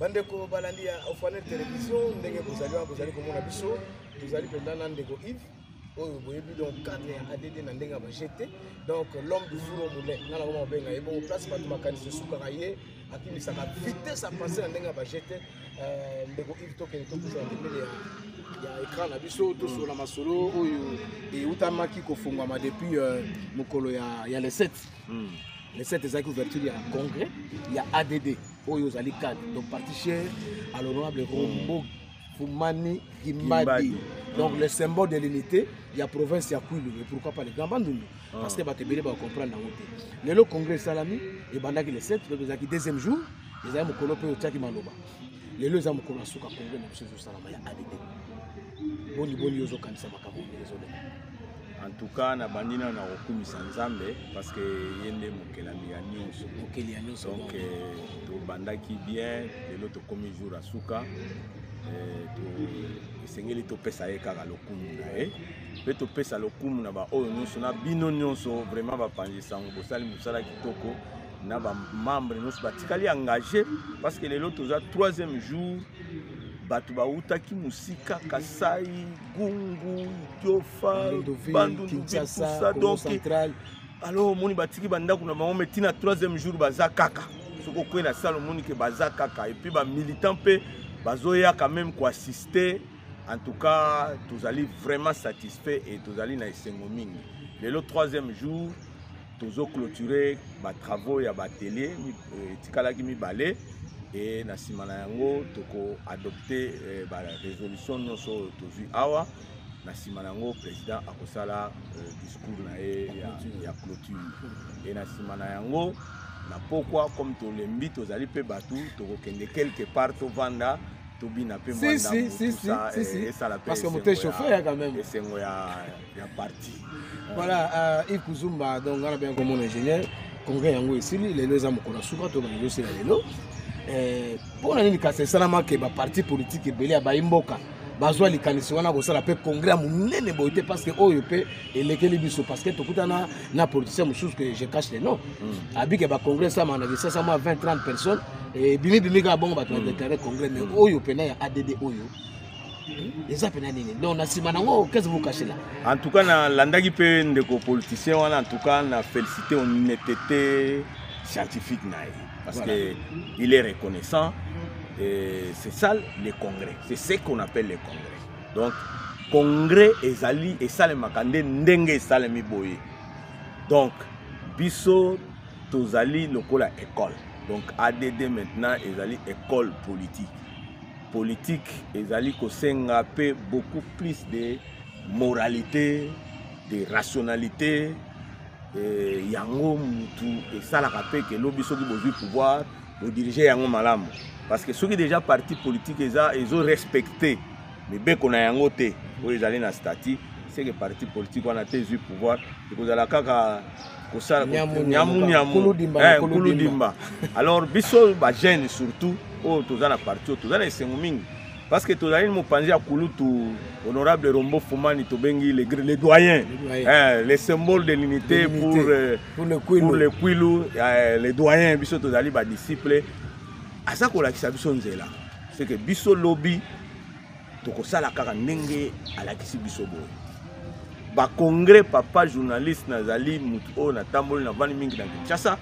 bandeko balandi ya ofanel television ndenge bozali wana bozali komona biso tozali mpenza na ndeko ive oyo boyebi donc cadre ya add na ndenge ya bajete donc l'homme du four au moulin nga na koma kobenga ye bongo place bato makanisi esukaka ye akimisaka vitesse ya pase na ndenge ya bajete euh, ndeko ive tokende tokutana pembeni ya ekran na biso tosolola masolo oyo eutamaki kofungwama depuis euh, mokolo ya le 7 hmm. le 7 ezalaki ouverture ya congrès ya add oyo ozali cadre donc particher à l'honorable rombo hmm. Fumani Kimbadi. Donc, le symbole de l'unité, il y a province, il y a Kouilou, mais pourquoi pas les grands bandounou ah. Parce que Batebele va comprendre la montée. Mais le congrès Salami, et Bandaki le 7, le deuxième jour, ils ont mokolo pe otiaki maloba. Lelo eza mokolo asuka congrès na biso ezosalama ya ADD. Boni boni ozokanisa makambo ndenge ezoleka. en tout cas nabandi nano na kokumisa nzambe parce que ye nde mokelami ya nyonso mokeli ya nyonso donc euh, tobandaki bien lelo tokomi jour ya suka euh, esengeli topesa ye kaka lokumu na ye mpe topesa lokumu na baoyo nyonso na bino nyonso vraiment bapanzi sango bosali mosala kitoko na bamembre nyonso batikali engage parce que lelo toza troisième jour bato bautaki mosika kasai gungu jofa bandundu kinshasa donc alors omoni batiki bandako na bango mai ntina troisième jour baza kaka soki okwei na sale omoni ke baza kaka epuis bamilitant mpe bazoya quand même koassiste en tout cas tozali vraiment satisfait et tozali na esengo mingi lelo troisième jour tozo clôturer ba travaux ya ba atelier euh, etikalaki mibale e na nsima na yango toko adopte euh, ba résolution nyonso oyo tozwi awa na nsima na yango président akosala euh, discours na ye ya, ya clôture e na nsima na yango na pokwa comme tolembi tozali mpe bato tokokende quelque part tovanda tobina mpe mwandaesala mpe esengo ya ya parti voilà uh, Yves Kuzumba donc ngana bien comme mon ingénieur congrès yango esili lelo eza mokolo ya suka to bana ezosila lelo eh, mpo na nini kasi esalamaki baparti politike ebele ya bayi mboka bazwa likanisi wana kosala mpe congrès ya monene boye te parce que oyo mpe elekeli biso parce que tokutana na politicien mosusu que je cache le nom mm. abike bacongrès esama na kisasa mwa 20 30 personnes ebimibimi kaka bongo bato badeklare congrès mais mm. oyo mpena ya add oyo eza pena nini donc na nsima nango kese bokashela en tout cas nalandaki mpe ndeko politicien wana en tout cas na félicité honnêteté scientifique na ye parce voilà. que il est reconnaissant et c'est ça le congrès c'est ce qu'on appelle le congrès donc congrès ezali esalemaka nde ndenge esalemi boye donc biso tozali lokola école donc add maintenant ezali école politique politique ezali kosenga mpe beaucoup plus de moralité de rationalité eh, yango mutu esalaka mpe ke lobi soki bozwi pouvoir bodirige yango malamu parce que soki déjà parti politique eza ezo respecte mibeko na yango te oyo ezali na statut seke parti politique wana te ezwi pouvoir ekozala kaka kosala nyamunyamukuludimba eh, alors biso bajeune surtout oyo toza na parti oyo toza na esengo mingi parce que tozali na mopanzi ya kulutu honorable rombo fumani tobengi le, le doyen eh, le symbole de l'unité pour, euh, pour le kwilu, pour le, kwilu eh, le doyen biso tozali badisciple aza kolakisa biso nzela seke biso lobi tokosala kaka ndenge alakisi biso boye bacongrès papa journaliste nazali motu oyo natamboli navandi mingi na kinshasa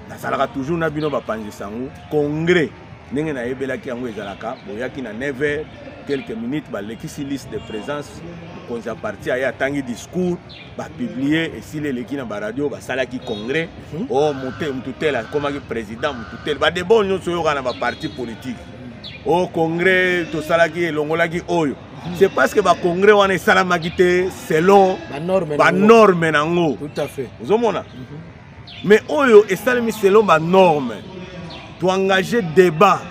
nazalaka toujours na bino bapanzi sango congrès ndenge nayebelaki yango ezalaka boyaki na 9 heures quelques minutes balekisi liste de présence mokonzi ya parti aye atangi discours bapiblie esili eleki na baradio basalaki congrès mhm. o oh, motu tele akomaki président motu tele badeba oyo nyonso oyokana na baparti politique o congrès tosalaki elongolaki oyo mhm. c'est parce que bacongrès wana esalamaki te selon banorme na yango ozomona mhm. mais oyo esalemi selon banorme toengage débat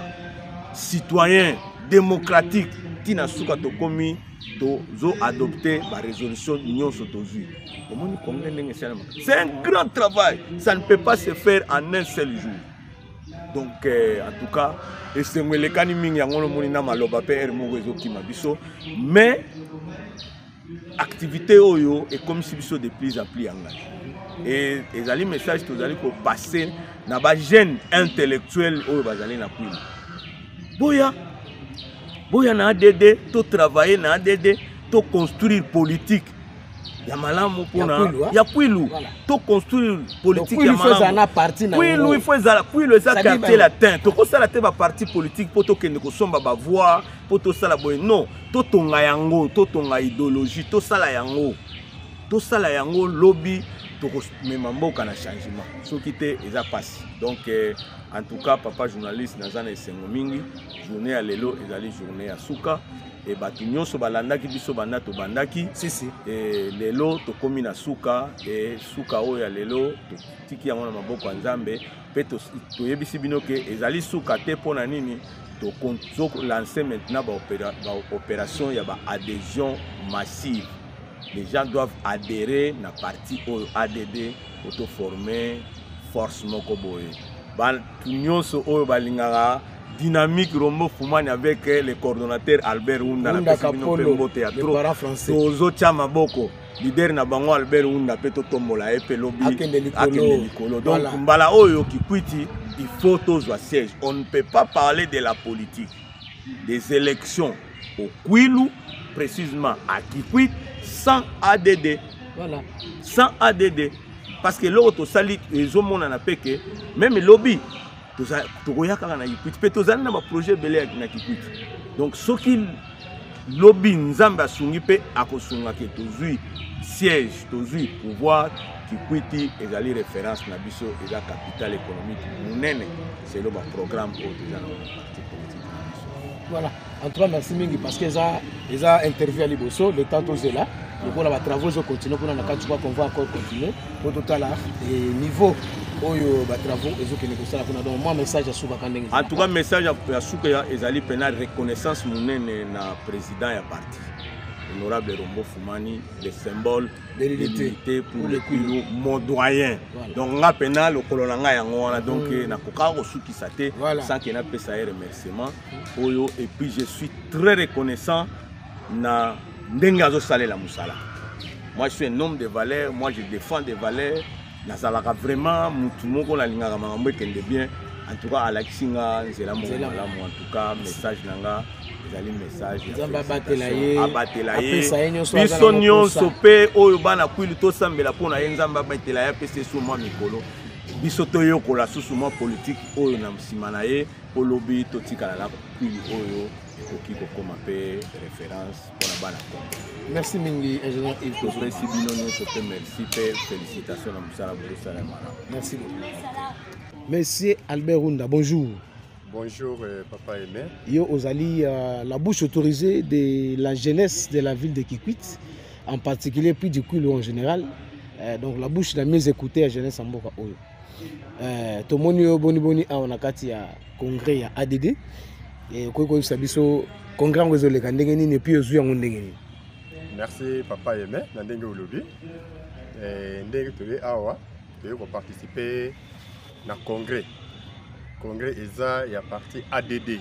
citoyen démocratique ntina suka tokomi tozo adopte barésolution nyonso tozwi omoni congrès ndenge esalamaka c'est un grand travail ça ne peut pas se faire en un seul jour donc eh, en tout cas esengo elekani mingi yango nomoni na maloba mpe ere moko ezokima biso mais activité oyo ekomisi biso de plus en plus engage e, ezali message tozali kopasse na bajeune intellectuel oyo bazali na kwina boya boya na add totravaille na add toconstruire politique ya malamu mpona ya kwilu to construire politique ya malamunkwilu ifo ezala kwilu eza quartier latin tokosala te baparti politique mpo tokende kosomba bavoire mpo tosala boye non totonga yango totonga idéologie tosala yango tosala yango lobi tokomema mboka na changement soki te eza mpasi donc eh, en tout cas papa journaliste naza na esengo mingi journée ya lelo ezali journée ya suka e bato nyonso balandaki biso banda tobandaki si, si. E, lelo tokomi na suka e, suka oyo ya lelo totiki yango na maboko ya nzambe mpe to, toyebisi bino ke ezali suka te mpo na nini tozolanse maintenant baopération ba ya baadhésion massive les gens doivent adhérer na parti oyo add otoforme force moko boye bato nyonso oyo balingaka dynamique rombo fumani avec eh, le coordonnateur albert hunda napesi bino mpe mbote ya trop tozotya maboko lider na bango albert hunda mpe totombola ye mpe lobi akende likolo donc mbala oyo kikwiti il faut tozwa siège on ne peut pas parler de la politique des élections au kwilu précisément à kikwit sans add voilà. sans add parce que eloko tosali ezomonana mpe ke meme lobi tokoya kaka na kikwiti mpe tozali na baprojet ebele na kikwiti donc soki lobi nzambe asungi mpe akosunga ke tozwi siège tozwi pouvoir kikwiti ezali référence na biso eza capital économique monene selo baprogramme oyo toza na parti politique na biso voilà en tout cas merci mingi parce que eza eza interview ya liboso le temps tozela lokola batravaux ezocontinue kuna na kati kwa convoi encore continue po totala niveau oyo batravaux ezokende kosala kuna donc mwa message ya suka ka ndenge en tout cas message ya suka ezali mpena reconnaissance monene na président ya parti honorable Rombo Foumani, le symbole de l'unité pour le Kwilu, mon doyen. Voilà. Donc, nga pena, le colonanga yango, donc, mm. na koka, osuki sate, voilà. sans qu'il n'a pas sa remerciement. oyo et puis je suis très reconnaissant na ndenge azosalela mosala moi je suis un homme de valeur moi je défends des valeurs nazalaka vraiment motu moko nalingaka makambo ekende bien en tout cas alakisi nga nzela moko malamu en tout cas message na nga ezali message abatela ye biso nyonso mpe oyo bana kwilu tosambela mpo na ye nzambe abatela ye apesa esu mwa mikolo biso toyokola susu mwa politiki oyo na nsima na ye olobi totikala na pili oyo ekoki kokoma mpe référence mpona bana kongo merci mingi ingénieur ive topesi bino nyonso mpe merci mpe félicitation na mosala bozosala malamu merci monsieur albert runda bonjour Bonjour euh, Papa Aimé. Yo Ozali, euh, la bouche autorisée de la jeunesse de la ville de Kikwit, en particulier puis du Kulu en général. Euh, donc la bouche la mieux écoutée à jeunesse en Boka Oyo. eh, tomoni yo boniboni awa na kati ya congrès ya add eh, okoki koyebisa biso congrès yango ezoleka ndenge nini epuis ozwi yango ndenge nini merci papa yeme na ndenge olobi eh, ndenge toye awa toye koparticipe na congrès congrès eza ya parti add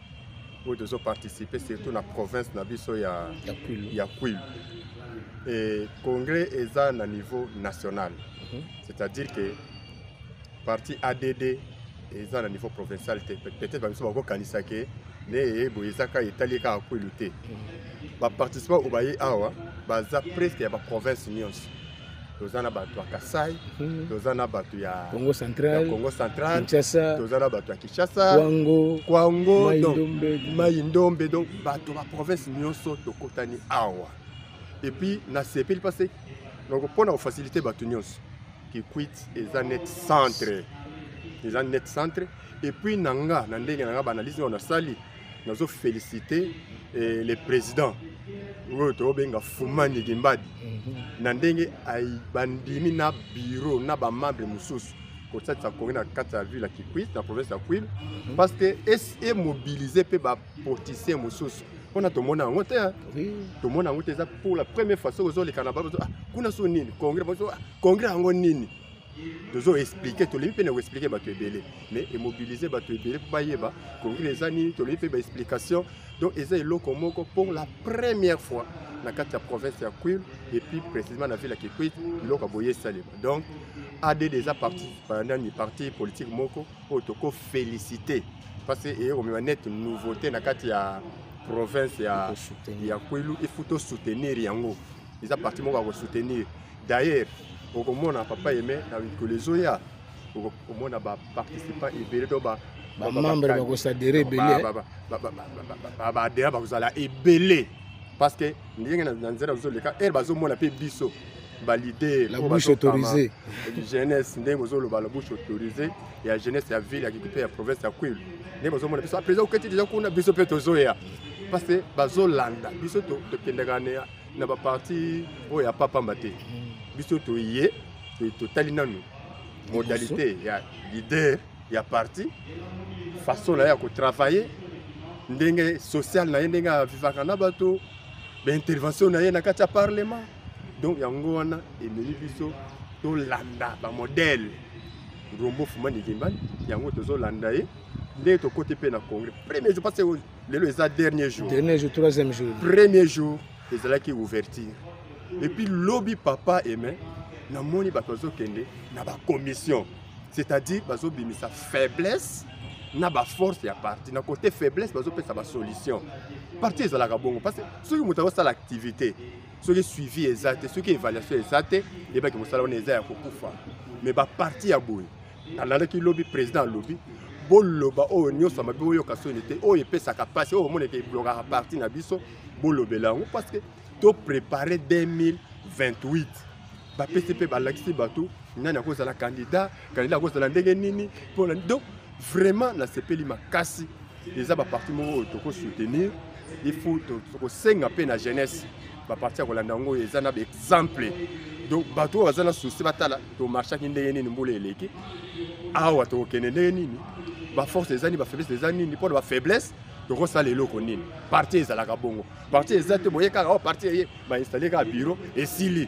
oyo tozo participer surtout na province na biso ya ya Kwilu et congrès eza na niveau national mm -hmm. c'est-à-dire que parti ADD eza na niveau provincial te peut-être bamiso bakokanisa ke neye boye eza kaka etali kaka Kwilu te mhm. baparticipant oyo baye awa baza presque ya baprovince nyonso toza na bato ya kasai mhm. toza na bato ya congo central congo central kinshasa toza na bato ya kinshasa kwango kwango mai ndombe donc bato ba province nyonso tokutani awa epuis nasepeli mpase donc mpo na kofacilite bato nyonso kikwit eza net centre eza net centre epuis na nga na ndenge na nga baanalyse oyo nasali nazo féliciter eh, le président oyo tobenga fuma ndiki mbadi mhm. na ndenge bandimi na biro na bamembre mosusu kosalisa congo na kati ya ville ya kikwit na province ya kwil mhm. parce que emobilise mpe bapoliticien mosusu mpona tomona yango te tomona yango te eza pour la première fois soki ozolekana ah, kuna so nini congrès ah, congrès yango nini tozo expliquer tolembi mpe na koexplike bato ebele mais emobilize bato ebele mpo bayeba covid eza nini tolembi mpe baexplication donc eza eloko moko pour la première fois na kati ya province ya quil et puis précisément na ville ya kikwit biloko ya boye esalema donc add eza parti nani parti politique moko oyo tokofélicité parce que eye komema nete nouveauté na kati ya province ya, ya kwilu ifuti osoutenir yango eza parti moko ya kosoutenir d'ailleurs okomona papa yeme na mikolo ezoya okomona baparticipant ebele to bamembre bakosadere ebeledea bakozala ebele parce que ndenge na nzela bazoleka ere bazomona mpe biso balider jeunesse ndenge ozoloba la bouche autorisée ya jeunesse ya ville ya kikupe ya province ya kwilu nde bozomona biso apres oketi deja kuna biso mpe tozoya parce que bazolanda biso tokendaka na baparti oyo ya papamba te biso toye totali nanu modalité ya leader ya parti façon na ye ya kotravaille ndenge sociale na ye ndenge avivaka na bato baintervention na ye na kati ya parlement donc yango wana ememi biso tolanda bamodele Rombo Fuma Nigimbani, yango tozolanda ye nde tokoti mpe na congrès premier jour parce que lelo eza dernier jour dernier jour troisième jour premier jour ezalaki ouverture et puis lobi papa aimé namoni bato bazokende na bacommission c'est-à-dire bazobimisa faiblesse na baforce ya parti na kote faiblesse bazopesa basolution parti ezalaka bongo parce que soki moto akosala activité soki suivi eza te soki évaluation eza te eyebaki mosala wana eza ya kokufa me baparti ya boye nalandaki lobi président alobi boloba oyo nyonso mabe boyoka soni te oyo epesaka mpasi oyo omoneke eblokaka parti na biso bolobela yango parce que toprépare 2028 bapesi mpe balakisi bato nani akozala kandida kandida akozala ndenge nini mpona donc Vraiment nasepeli makasi eza ba parti moko oyo toko soutenir il faut tokosenga mpe na jeunesse baparti ya kolanda yango oyo eza na baexemple donc bato oyo baza na souci batala tomarchaki ndenge nini mbula eleki awa tokokende ndenge nini baforce eza nini bafaiblesse eza nini mpo na bafaiblesse tokosala eloko nini parti ezalaka bongo parti eza te boye kaka o oh, parti eye bainstalle kaka biro esili